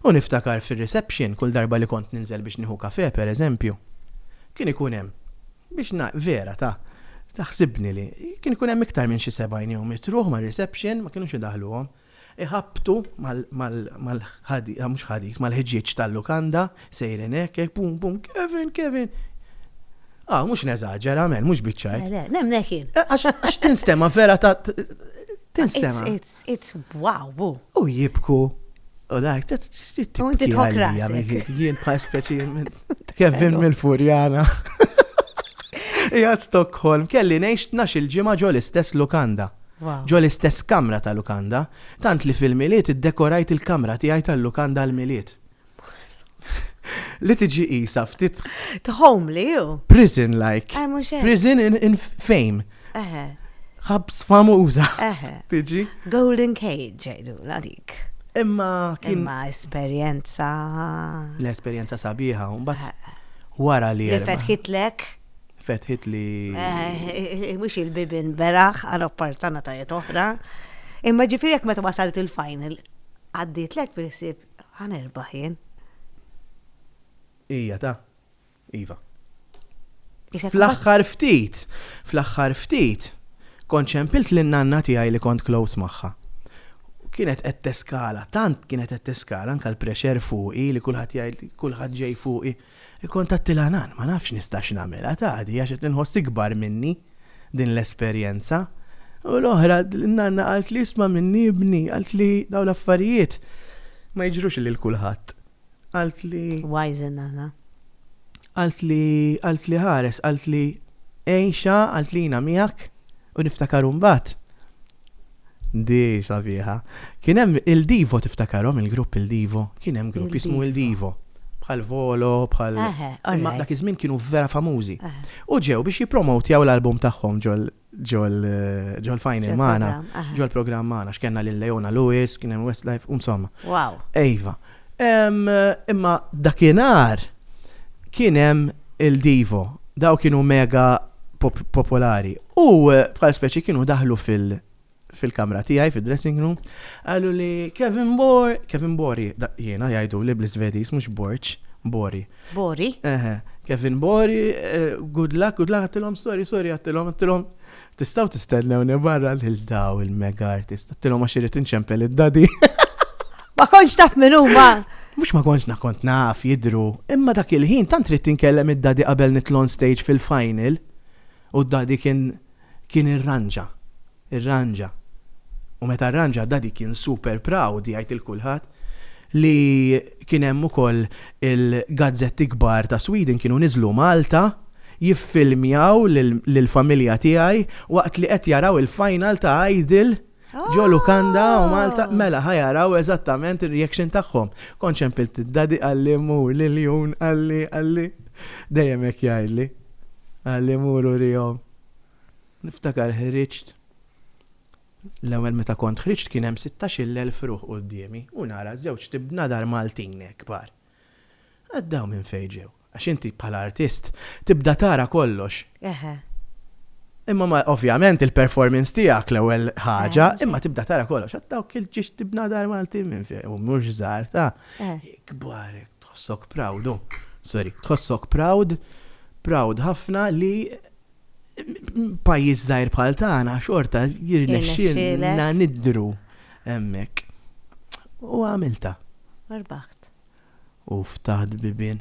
U niftakar fir-reception kull darba li kont ninżel biex nieħu kafè pereżempju, kien ikun hemm, biex ngħi, vera ta, ta ħsibni li, kien ikun hemm iktar minn xi sebgħin jew mitt ruħ mar-reception ma kinux idaħħluhom. iħabbtu mal-ħġieġ tal-lukanda, sejrin hekk, hekk, bum, bum, Kevin, Kevin! Ah, mhux neżaġera, men, mhux biċċajt. Le, le, nemnek jien. Eh, għax tinstema vera ta' tinstema. It's, it's, wow, bu. U jibku. U dajk, ta' t-tibki. U inti tħokra. Jien pa' speċi, Kevin mill-Furjana. Jgħad Stockholm, kelli nejx nax il-ġimma ġol istess lukanda. ġo l-istess kamra ta' lukanda, tant li fil-Milied iddekorajt il-kamra tiegħi tal-lukanda għall-Milied. Li tiġi qisha ftit. Tħomli hu. Prison like. Eh, mhux hekk. Prison in, in fame. Eħe. Ħabs famuża. Eħe. Tiġi. Golden cage ġejdu, la dik. Imma kien. Imma esperjenza. L-esperjenza sabiħa, mbagħad wara li. Li fetħitlek fetħit li. Mhux il-bibin beraħ għal opportunitajiet oħra. Imma ġifieri jekk meta wasalt il-final għaddiet lek bil-ħsieb ħanerbaħ jien. Ija ta' Iva. Fl-aħħar ftit, fl-aħħar ftit, kont ċempilt lin nanna tiegħi li kont close magħha. Kienet qed teskala, tant kienet qed teskala anke l-pressure fuqi li kulħadd jgħid kulħadd ġej fuqi. Ikkuntatti l-għanan, ma nafx nistax nagħmilha tgħaddi għax qed inħoss ikbar minni din l-esperjenza. U l-oħra, n-nanna qaltli isma' minni ibni, qaltli dawn l-affarijiet ma jiġrux lil kulħadd. Qaltli. Wise in-nanna. Qaltli, qaltli ħares, qaltli għixha, qaltli jiena miegħek u niftakar imbagħad. Di sabiħa. Kien hemm il-Divo tiftakarhom il-grupp il-Divo, kien hemm grupp jismu il-Divo. Bħal Volo, bħal. Imma dak iż-żmien kienu vera famużi. U ġew biex jippromotjaw l-album tagħhom ġol ġol final magħna, ġol programm magħna, x'kellna lil Leona Lewis, kien hemm Westlife, insomma. Wow. Ejva. Imma dakinhar kien hemm il-Divo, daw kienu mega popolari. U eh, bħal speċi kienu daħlu fil- fil-kamra tiegħi, fil-dressing room, għallu li Kevin Bor, Kevin Bori, jiena jgħidu li bl-Svedis, mux Borċ, Bori. Bori? Eħe, Kevin Bori, eh, good luck, good luck, għattilom, sorry, sorry, għattilom, għattilom, Tistgħu tistennewni barra lil daw il-mega artists. Għattilhom għax irid inċempel id-dadi. Ma kontx taf min huma. Mhux ma kontx nakont naf jidru, imma dak il-ħin tant trid tinkellem id-dadi qabel nitlu on stage fil-final u d-dadi kien kien irranġa. Irranġa. U meta rranġa d-dadi kien super proud jgħid il-kulħadd. li kien hemm ukoll il-gazzetti kbar ta' Sweden kienu niżlu Malta jiffilmjaw lill-familja tiegħi waqt li qed jaraw il-final ta' Idol ġo lukanda u Malta mela ħa jaraw eżattament ir-reaction tagħhom. Kont xempilt id-daddy qalli mur l-iljun qalli qalli dejjem hekk jgħidli qalli mur urihom. Niftakar ħriġt. L-ewwel meta kont ħriġt kien hemm sittax-il elf ruħ quddiemi u nara żewġt ibnadar Maltin hekk kbar. Għad dawn minn fejn ġew? Għax inti bħala artist tibda tara kollox. Eħe. Imma ma ovvjament il-performance tiegħek l-ewwel ħaġa, imma tibda tara kollox. Għad dawk il-ġiex ibnadar Maltin minn fejn u mhux żgħar ta' kbar hekk tħossok proud u sorry, tħossok proud, proud ħafna li pajjiż żgħir bħal tagħna xorta jirnexxilna nidru hemmhekk. U għamilta. Arbaħt. U ftaħt bibien.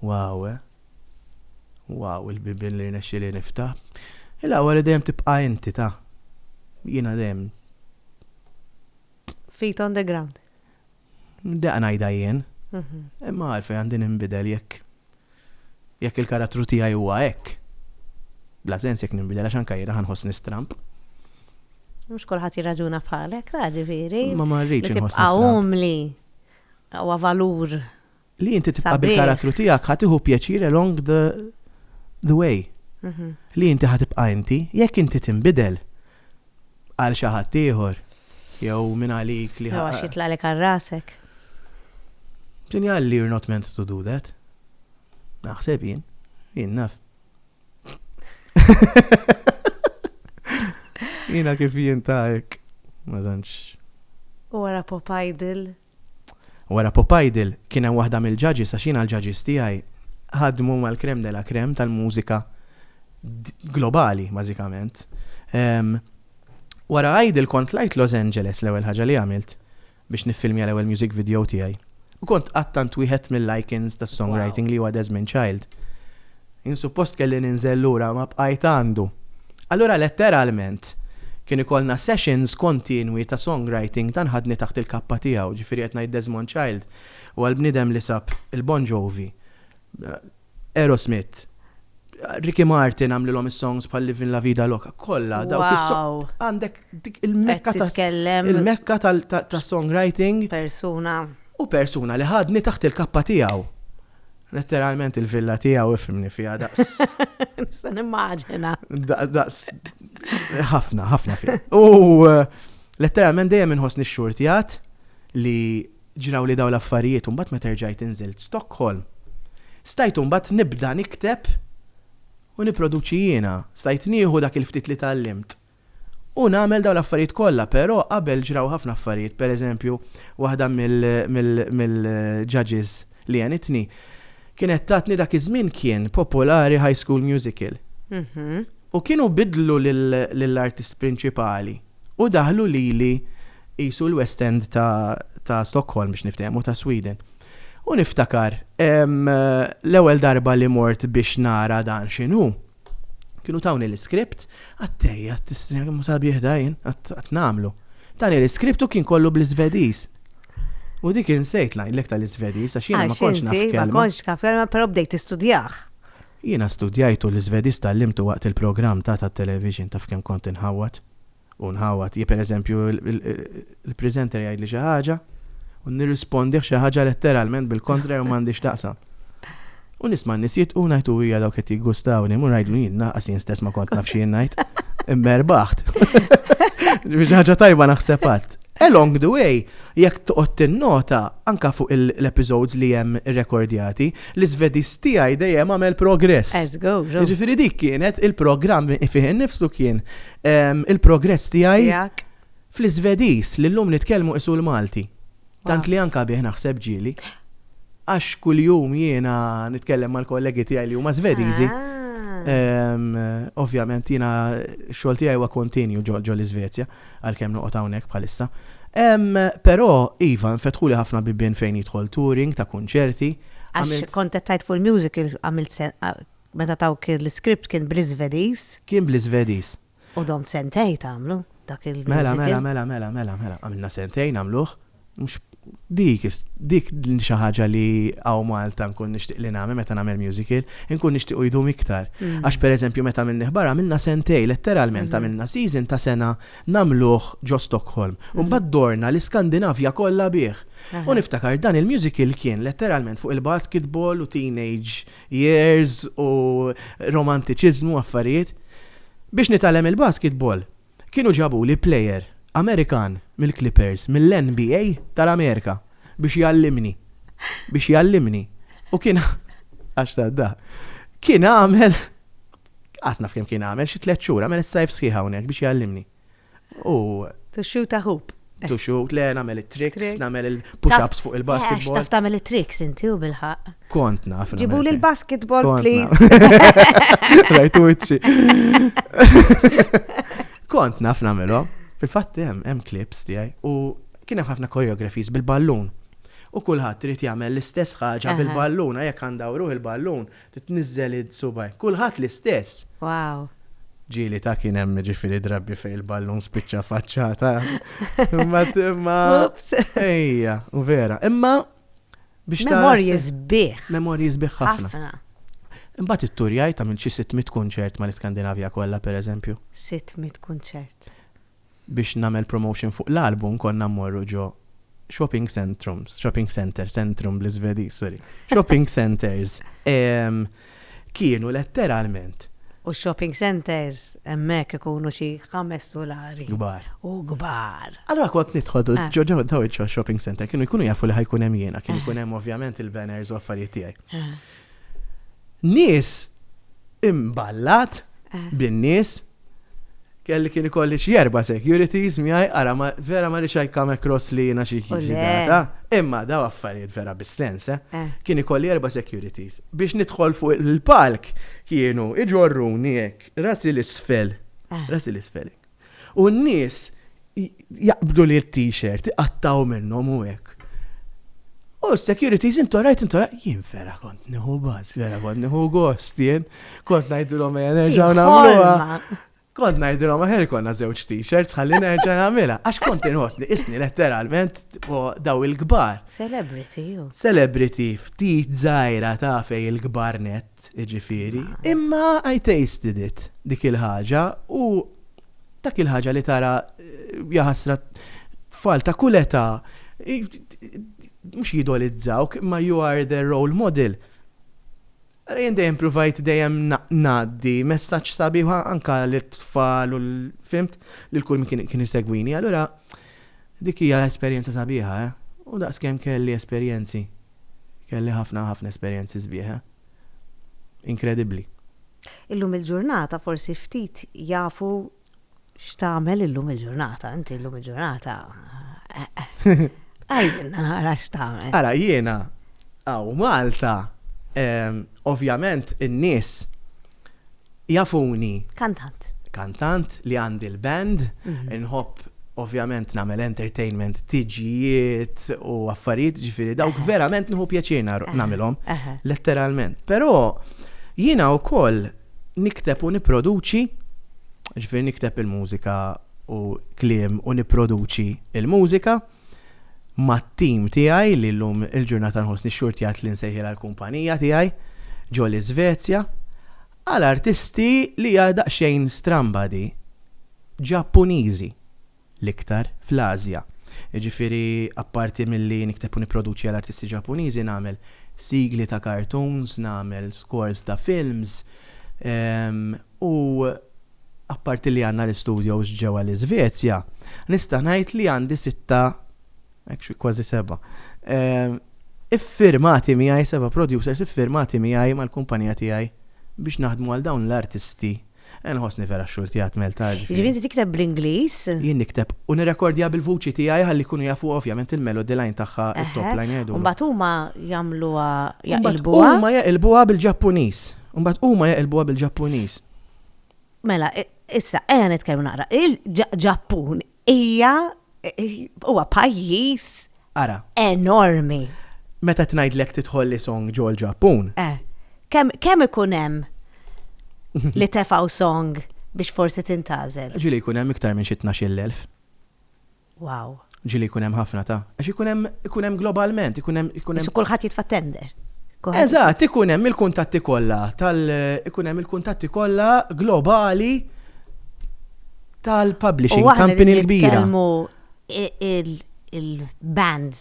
Wow, eh? Wow, il-bibien li rnexxili niftaħ. Il-għawar li dejjem tibqa' inti ta' jiena dejjem. Feet on the ground. Deqa ngħidha jien. Imma għalfejn għandi ninbidel jekk jekk il-karattru tiegħi huwa hekk. Bla sens jekk ninbidel għax anke jiena ħanħoss nistramp. Mhux kulħadd jirraġuna bħalek, ta' ġifieri. Ma ma rridx inħoss. Umli. Huwa valur li inti tibqa' bil-karattru tiegħek ħa tieħu pjaċir along the, the way. Mhm. Li inti ħa tibqa' inti, jekk inti tinbidel għal xi ħadd ieħor jew minn għalik li ħa. Għax jitlaqlek għal rasek. Sinjal li you're not meant to do that. Naħseb jien, jien naf. Jina kif jien ta' hekk, ma tantx. U wara pop idol Wara Pop Idol, kien hemm waħda mill-judges, għax jiena l-judges tiegħi ħadmu mal-crème de la crème tal-mużika globali, bażikament. Wara Idol kont tlajt Los Angeles, l-ewwel ħaġa li għamilt, biex niffilmja l-ewwel music video tiegħi. U kont qattant wieħed mill-icons tas-songwriting li huwa Desmond Child. Jien suppost kelli ninżel lura ma bqajt għandu. Allura letteralment kien ikollna sessions kontinwi ta' songwriting dan ħadni taħt il-kappa tiegħu, ġifieri qed ngħid Desmond Child huwa l-bniedem li sab il-Bon Jovi, Aerosmith, Ricky Martin għamlilhom is-songs bħal Livin' La Vida Loca, kollha dawk is-. Wow. Għandek dik il-mekka ta' Titkellem il-mekka tal- ta' ta' songwriting persuna. u persuna li ħadni taħt il-kappa tiegħu. Letteralment il-villa tiegħu ifhimni fiha daqs. Nista' nimmaġina. Daqs ħafna, ħafna fiha. U eh, letteralment dejjem inħossni xxurtjat li ġraw li daw l-affarijiet u mbagħad meta rġajt inżilt Stockholm. Stajt mbagħad nibda nikteb u niproduċi jiena, stajt nieħu dak il-ftit li tallimt U nagħmel dawn l-affarijiet kollha, però qabel ġraw ħafna affarijiet, pereżempju, waħda mill-judges li għenitni kienet tatni dak iż-żmien kien popolari High School Musical. U kienu biddlu lill-artist prinċipali u daħlu lili qisu l-West End ta' Stockholm biex niftehmu, ta' Sweden. U niftakar, l-ewwel darba li mort biex nara dan x'inhu, Kienu tawni l-iskript, għattej, għattistri, għamu sabiħ dajn, għatt namlu. Tani l-iskript u kien kollu bl-Svediż. U dik insejt lajlek tal-Svediż, għax jena ma konx naf. Ma konx naf, pero bdejt istudjaħ. Jena studjajtu l-Svediż tal-limtu waqt il-program ta' ta' television taf kem kont inħawat. u ngħawwad, jekk pereżempju l-presenter jgħidli xi ħaġa u nirrispondih xi ħaġa letteralment bil-kontra jew m'għandix x'taqsam. U nisma' n-nies jitqu ngħid u hija dawk qed jiggustawni, mur ngħidlu jien naqas jien stess ma kont naf xi ngħid. Imma erbaħt. Biex ħaġa tajba naħseb għadd. Along the way, jekk toqgħod tinnota anka fuq l-episodes li hemm rekordjati, l-Svedis tiegħi dejjem għamel progress. Ġifieri dik kienet il-programm fih innifsu kien il-progress tiegħi fl-Iżvedis li llum nitkellmu isu l-Malti. Tant li anka bih naħseb ġieli. Għax kuljum jiena nitkellem mal-kollegi tiegħi li huma Żvediżi. Ah. Ovvjament jiena xogħol tiegħi huwa kontinju ġol iżvezja għalkemm noqgħod hawnhekk bħalissa. Però iva nfetħu li ħafna bibien fejn jidħol touring ta' kunċerti. Għax kontettajt fuq il-music għamilt Meta tawk l-iskript kien bl-Iżvediż. Kien bl-Iżvediż. U domt sentejn tagħmlu dak il-musical. Mela, mela, mela, mela, mela, mela. Għamilna sentejn nagħmluh. Mhux dik, dik xi ħaġa li hawn Malta nkun nixtieq li nagħmel meta nagħmel musical, inkun nixtieq u jdum iktar. Għax pereżempju meta għamilnih barra għamilna sentejn, letteralment għamilna season ta' sena nagħmluh ġo Stockholm. U mbagħad dorna l-Iskandinavja kollha bih. U niftakar dan il-musical kien letteralment fuq il-basketball u teenage years u romantiċiżmu u affarijiet. Biex nitgħallem il-basketball, kienu ġabuli player Amerikan mill-Clippers, mill-NBA tal-Amerika biex jgħallimni. Biex jgħallimni. U kien għax tad-daħk. Kien għamel, qas naf kemm kien għamel, xi tliet xhur, għamel is-sajf sħiħ hawnhekk biex jgħallimni. U. To shoot a hoop. To shoot, le, nagħmel it-tricks, nagħmel il-push-ups fuq il-basketball. Għax taf tagħmel it-tricks inti u bil-ħaq. Kont naf. Ġibu li l-basketball, please. Rajtu iċċi. Kont naf nagħmelhom. Fil-fatt hemm hemm clips tiegħi u kien hemm ħafna choreographies bil-ballun. U kulħadd trid jagħmel l-istess ħaġa bil-ballun, jekk għandawruh il-ballun, Titniżżel id-subgħajn. Kulħadd l-istess! Wow! Ġieli ta' kien hemm jiġifieri drabi fejn il-ballun spiċċa faċċata. Imbagħad imma. Oops! Ejja, vera. Imma biex ta' Memorji sbieħ. Memorji sbieħ ħafna. Ħafna. Imbagħad it-turjaj ta' minn xi 600 kunċert mal-Iskandinavja kollha pereżempju. 600 kunċert. biex nagħmel promotion fuq l-album konna mmorru ġo shopping centrums, shopping centre, centrum bl-Iżvediż, sorry, shopping centres. Kienu letteralment. U shopping centres hemmhekk ikunu xi ħames sulari. Kbar. U kbar. Allura kont nidħol ah. ġo ġo daw shopping center kienu jkunu jafu li ħajkun hemm jiena, kienu jkun hemm ovvjament il-banners u affarijiet tiegħi. Ah. Nies imballat bin-nies kelli kien ikolli xi erba' securities miegħi ara vera ma rixaj come across li jiena xi data. Imma daw affarijiet vera bis-sens, eh? eh. Kien ikolli erba' securities. Biex nidħol fuq il-palk kienu iġorruni hekk, rasi l-isfel. Eh. Rasi l-isfel. U n-nies jaqbdu li t-t-shirt, iqattgħu minnhom u hekk. U s-securities intu rajt intu rajt, jien vera kont nieħu baż, vera kont nieħu gost jien, kont ngħidilhom ejja nerġgħu nagħmluha. Kont ngħidilhom aħer konna żewġ t-shirts ħalli nerġa' nagħmilha għax kont inħossni isni letteralment daw il-kbar. Celebrity ju. Celebrity ftit żgħira ta' fej il-kbar net. jiġifieri, imma I tasted it, dik il-ħaġa, u dak il-ħaġa li tara, jaħasra, tfal ta' kull età, mhux jidolizzawk, imma you are their role model. Ara jien dejjem pruvajt dejjem ngħaddi messaġġ sabiħ anke lit-tfal u fimt, lil kull min kien isegwini, allura dik hija esperjenza sabiħa, eh. U daqskemm kelli esperjenzi. Kelli ħafna, ħafna esperjenzi sbieħ. Inkredibbli. Illum il-ġurnata forsi ftit jafu x'tagħmel illum il-ġurnata, inti illum il-ġurnata. Għajdilna nara x'tagħmel. Ara jiena għaw Malta, ehm, ovvjament in-nies Jafuni. Kantant. Kantant li għandi l-band, inħobb ovvjament nagħmel entertainment, tiġijiet u affarijiet ġifieri dawk verament nieħu pjaċir nagħmilhom, letteralment. Però jiena wkoll nikteb u nipproduċi, ġifieri nikteb il-mużika u kliem u nipproduċi l-mużika. mat-tim tiegħi li llum il-ġurnata nħossni xxurtjat li nsejħilha l-kumpanija tiegħi ġo l-Iżvezja għal artisti li hija daqsxejn stramba di, Ġappuniżi, l-iktar fl-Ażja. Jiġifieri apparti milli nikteb u nipproduċi għal artisti Ġappuniżi nagħmel sigli ta' cartoons, nagħmel scores ta' films u apparti li għandna l-istudios ġewwa l-Iżvezja, nista' ngħid li għandi sitta, actually kważi seba', iffirmati miegħi, seba' producers iffirmati miegħi mal-kumpanija tiegħi biex naħdmu għal dawn l-artisti. Inħossni vera x-xurti għad Malta. Jiġifieri inti tikteb bl-Ingliż? Jien nikteb u nirrekordja bil-vuċi tiegħi ħalli jkunu jafu ovvjament il-melody line tagħha, it-top line jgħidulu. Imbagħad huma jagħmluha, jaqilbuha? Huma jaqilbuha bil-Ġappuniż. Imbagħad huma jaqilbuha bil-Ġappuniż. Mela, issa, eja nitkellmu naqra. Il-Ġappun hija huwa pajjiż Ara. Enormi. Meta tnajdlek tidħol li song ġol Ġappun. Eh, kemm ikun hemm li tefaw song biex forsi tintażel? Ġili jkun hemm iktar minn xi 12,000. Wow. Ġili jkun hemm ħafna ta' għax ikun hemm ikun hemm globalment, ikun hemm ikun hemm. Kulħadd jitfa' tender. Eżatt, ikun hemm il-kuntatti kollha tal ikun hemm il-kuntatti kollha globali tal-publishing company l-kbira. il-bands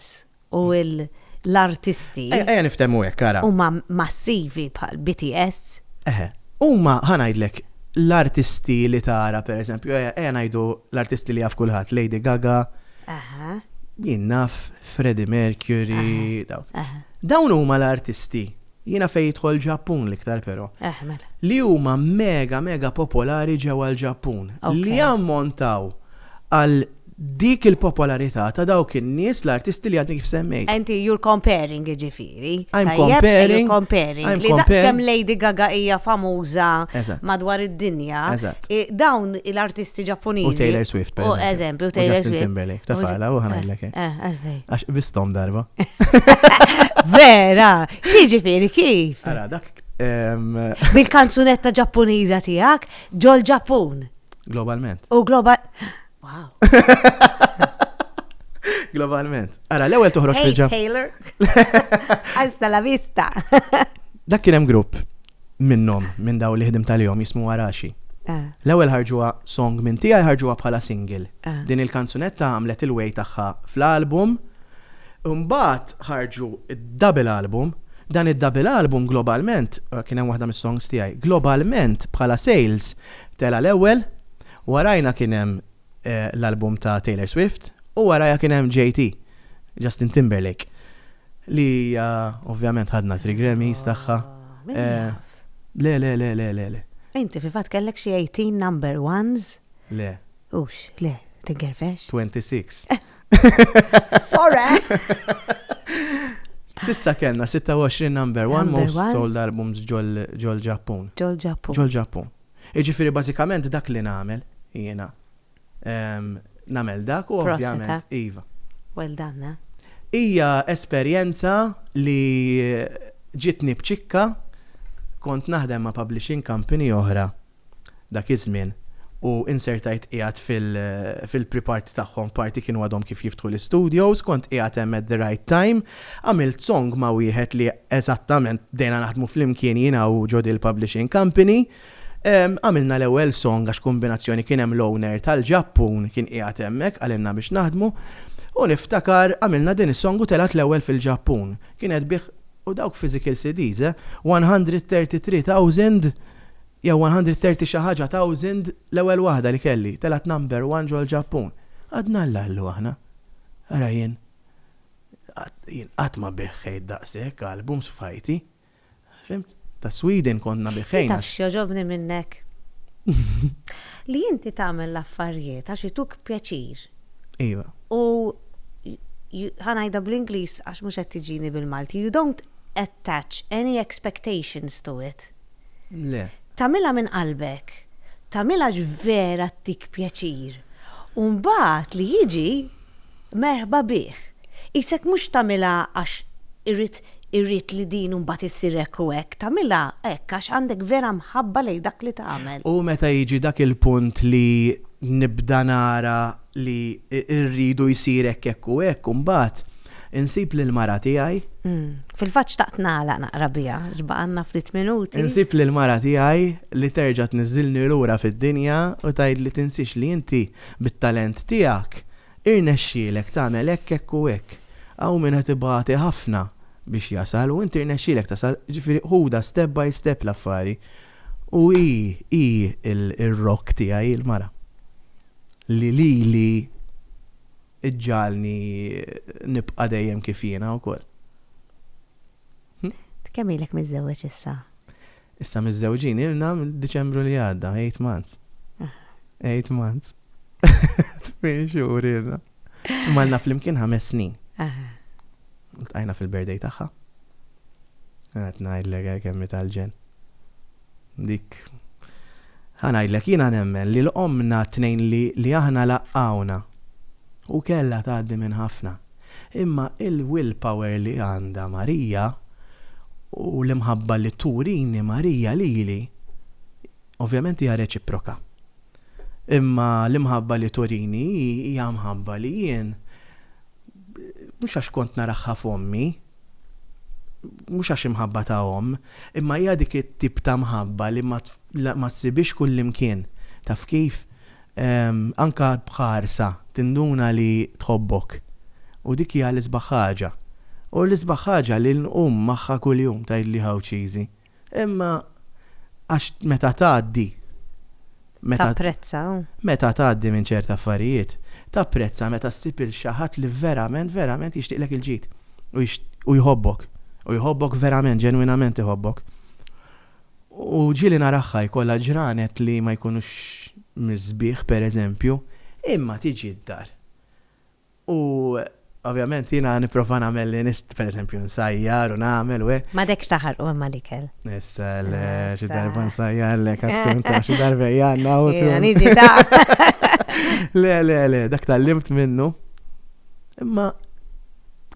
u l-artisti. Ejja niftehmu hekk ara. Huma massivi bħal BTS. Eħe, huma ħanajdlek l-artisti li tara pereżempju, ejja ngħidu l-artisti li jaf kulħadd, Lady Gaga. Aha. Jien naf Freddie Mercury, dawk. Dawn huma l-artisti Jiena fejn jidħol Ġappun l-iktar però. Eħ, mela. Li huma mega mega popolari ġewwa l-Ġappun. Li jammontaw għal dik il-popolarità ta' dawk in-nies l-artisti li għadni kif semmejt. Inti you're comparing jiġifieri. I'm comparing. You're comparing. Li daqskemm Lady Gaga hija famuża madwar id-dinja. Eżatt. Dawn l-artisti Ġappuniżi. U Taylor Swift. U eżempju Taylor Swift. Justin Timberlake. Tafala u ħanajlek. Eh, eh, għalfejn. Għax qbistom darba. Vera, xi ġifieri kif? Ara, dak. Bil-kanzunetta Ġappuniża tiegħek ġol Ġappun. Globalment. U global. Wow. Globalment. Ara, l-ewwel toħroġ fil-ġapp. Taylor. Alza la vista. Dak kien hemm grupp minnhom, minn dawn li ħdimt għalihom, jismu Araxi. L-ewwel ħarġuha song minn tiegħi ħarġuha bħala single. Din il-kanzunetta għamlet il-way tagħha fl-album. Imbagħad ħarġu d-double album. Dan id-double album globalment, kien hemm waħda mis-songs tiegħi, globalment bħala sales tela' l-ewwel, warajna kien hemm l-album ta' Taylor Swift, u waraja kien hemm JT, Justin Timberlake, li ovvjament ħadna tri Grammys tagħha. Ah, le, le, le, le, le, le. Inti fi fatt kellek xi 18 number ones? Le. Ux, le, tingerfex? 26. Sorry! Sissa kellna 26 number one most sold albums ġol Ġappun. Ġol Ġappun. Ġol Ġappun. Jiġifieri bażikament dak li nagħmel jiena. Nagħmel dak u ovvjament iva. Well done. Hija esperjenza li ġietni b'ċikka, kont naħdem ma' publishing company oħra dak iż-żmien u insertajt qiegħed fil-pre-party tagħhom, party kienu għadhom kif jiftħu l-istudios, kont qiegħed hemm at the right time, Għamilt song ma' wieħed li eżattament bdejna naħdmu flimkien jiena u Joe Dill Publishing Company. Għamilna l-ewwel song għax kombinazzjoni kien hemm l-owner tal-Ġappun kien qiegħed hemmhekk qalilna biex naħdmu u niftakar għamilna din is-song u telgħet l-ewwel fil-Ġappun. Kienet bih u dawk physical CDs eh, 133 thousand jew 130 xi ħaġa thousand l-ewwel waħda li kelli, telgħet number one ġol-Ġappun. Għadna l-Allu aħna. Ara jien. Jien qatt ma beħħejt daqshekk albums f'ħajti. Fhimt? Ta' Sweden kont nabeħħejn għax. Taf x'jogħġobni minnek? Li inti tagħmel l-affarijiet għax ituk pjaċir. Iva. U ħa ngħidha bl-Ingliż għax mhux qed tiġini bil-Malti. You don't attach any expectations to it. Le. Tamilha minn qalbek. Tamilha vera ttik pjaċir. U mbagħad li jiġi Merħba bih. Qisek mhux tagħmilha għax irrid irrid li din mbagħad issir hekk u hekk, tagħmilha hekk għax għandek vera mħabba lejn dak li tagħmel. U meta jiġi dak il-punt li nibda nara li rridu jsir hekk hekk u hekk u mbagħad insib lill-mara tiegħi. Fil-fatt xtaqt nagħlaq naqra biha għax baqgħalna ftit minuti. Insib lill-mara tiegħi li terġa' tniżżilni lura fid-dinja u tgħidli tinsiex li inti bit-talent tiegħek Irnexxielek tagħmel hekk, hekk u hekk. Hawn min qed ibati ħafna biex jasal u inti rnexxielek tasal, ġifieri ħudha step by step l-affari. U hi, hi r-rock tiegħi, il-mara. Li lili ġġagħalni nibqa' dejjem kif jiena wkoll. Int kemm ilek miżżewweġ issa? Issa miżżewġin ilna mill-Diċembru li għadda, eight months. Eight months. Tmien xhur ilna. Malna flimkien ħames snin. Tqajna fil-birthday tagħha. Għat ngħidlek eh, kemmi tal-ġen. Dik ħanajdlek jina nemmen li l-omna t-tnejn li aħna laqqawna u kella tgħaddi minn ħafna. Imma il-will power li għandha Marija u l-imħabba li turini Marija lili, ovvjament hija reċiproka. Imma l-imħabba li turini hi hija mħabba li jien, mhux għax kont naraha f'ommi, mhux għax imħabba ta' omm, imma hija dik it-tip ta' mħabba li ma ssibhiex kullimkien. Taf kif? Anke b'ħarsa tinduna li tħobbok, u dik hija l-isbaħ ħaġa. U l-isbaħ ħaġa li nqum magħha kuljum, tgħidli Għawdxiżi. Imma għax meta tgħaddi, meta. Tapprezza. Meta tgħaddi minn ċerti affarijiet, tapprezza meta ssib 'il xi ħadd li verament, verament jixtieqlek il-ġid u jixtieq, u jħobbok. U jħobbok verament, ġenwinament iħobbok. U ġieli naraha jkollha ġranet li ma jkunux mis-sbieħ, pereżempju, imma tiġi d-dar. U ovvjament jiena nipprova nagħmel li nista', pereżempju nsajjar u nagħmel u hekk. M'għadekx taħarqu imma l-ikel. Issa le, xi darba nsajjarlek għad tkun taf xi darba hija għandna u. Jiena niġi taf. Le, le, le, dak tgħallimt minnu. Imma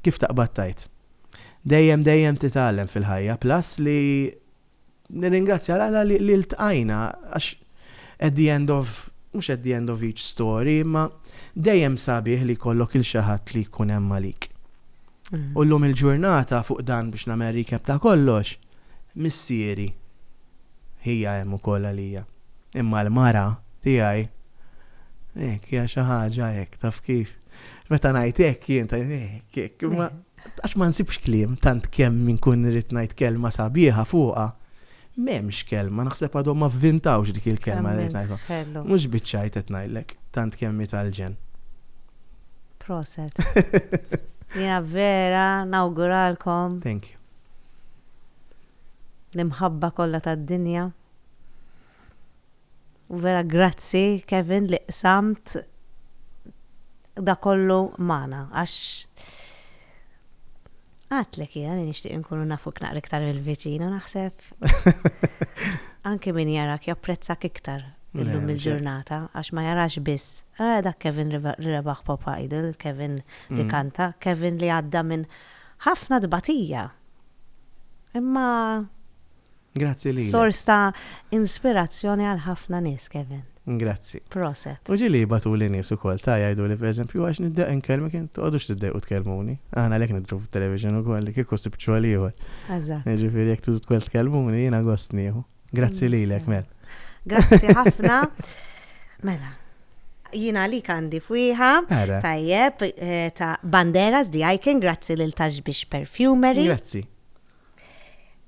kif taqbad tgħid? Dejjem dejjem titgħallem fil-ħajja plus li nirringrazzja l Alla li ltqajna għax at the end of mhux at the end of each story imma dejjem sabiħ li jkollok il xi ħadd li jkun hemm għalik. U llum il-ġurnata fuq dan biex nagħmel recap ta' kollox, missieri hija hemm ukoll għalija. Imma l-mara tiegħi hekk hija xi ħaġa hekk taf kif. Meta ngħid hekk jien ta' hekk hekk, imma għax ma nsibx kliem tant kemm min kun rrid ngħid kelma sabiħa fuqha. M'hemmx kelma, naħseb għadhom ma vvintawx dik il-kelma li ngħidha. Mhux biċċajt qed ngħidlek, tant kemm tal-ġen. Proset. Jiena vera nawguralkom. Thank you. L-imħabba kollha tad-dinja. Vera grazzi Kevin li qsamt da kollu magħna għax għadtlek jiena li nixtieq inkunu nafuk naqra iktar mill-viċin u naħseb anke min jarak japprezzak iktar illum il-ġurnata għax ma jarax biss eh, dak Kevin li rebaħ Pop Idol, Kevin li mm. kanta, Kevin li għadda minn ħafna tbatija. Imma Grazzi lilek. Sors ta' inspirazzjoni għal ħafna nies, Kevin. Grazzi. Proset. U ġieli jibgħatuli nies ukoll, ta' jgħiduli pereżempju, għax niddeq inkellmek int, toqgħodux tiddejqu tkellmuni. Aħna għalhekk nidhru fit-television ukoll, li kieku sibt xogħol ieħor. Eżatt. Jiġifieri jekk tridu tkun tkellmuni, jiena gost nieħu. Grazzi lilek, Mel. Grazzi ħafna. Mela, jien għalik għandi fwieħa. Ara. Tajjeb, eh, ta' Banderas, The Icon, grazzi lil Taxbix Perfumery. Grazzi.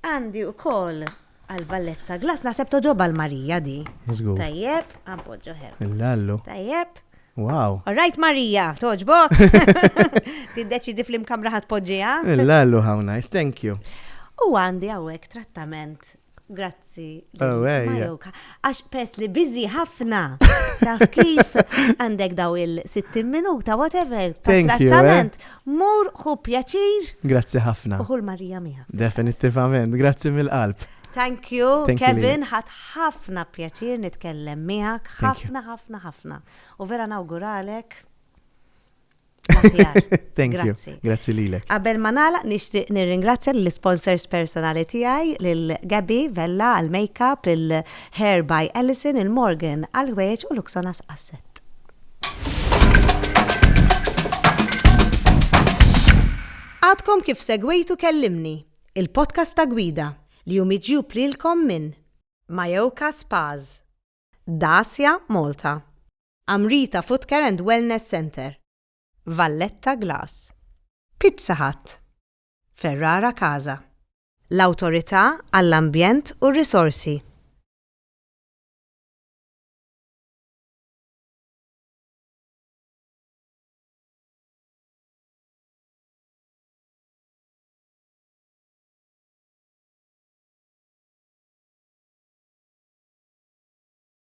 Għandi ukoll għal Valletta Glass, naħseb togħġob għal Marija di. Żgur. Tajjeb, ħa npoġġu ħel. Il-lallu. Tajjeb. Wow. All right Marija, togħġbok? Tiddeċidi fl-imkamra ħa tpoġġiha? Il-lallu how nice, thank you. U għandi hawnhekk trattament Grazzi. Oh, Għax pers li bizi ħafna. Taf kif għandek daw il-60 minuta, whatever, ta' eh? trattament. Mur hu pjaċir. Grazzi ħafna. Uħu l-Marija miħa. Definitivament, grazzi mill-qalb. Thank you, Thank Kevin, ħat ħafna pjaċir nitkellem miegħek, ħafna, ħafna, ħafna. U vera nawguralek Thank you. Grazzi lilek. Qabel ma nagħlaq nixtieq nirringrazzja l-sponsors personali tiegħi lil Gabby Vella għal makeup, il-Hair by Allison, il-Morgan għal ħwejġ u Luxonas Asset. Għadkom kif segwejtu kellimni, il-podcast ta' gwida li jum iġjub lilkom minn Majoka Spaz, Dacia Malta. Amrita Footcare and Wellness Centre. Valletta Glass. Pizza Hut. Ferrara Casa. L-Awtorità għall-Ambjent u r-Risorsi.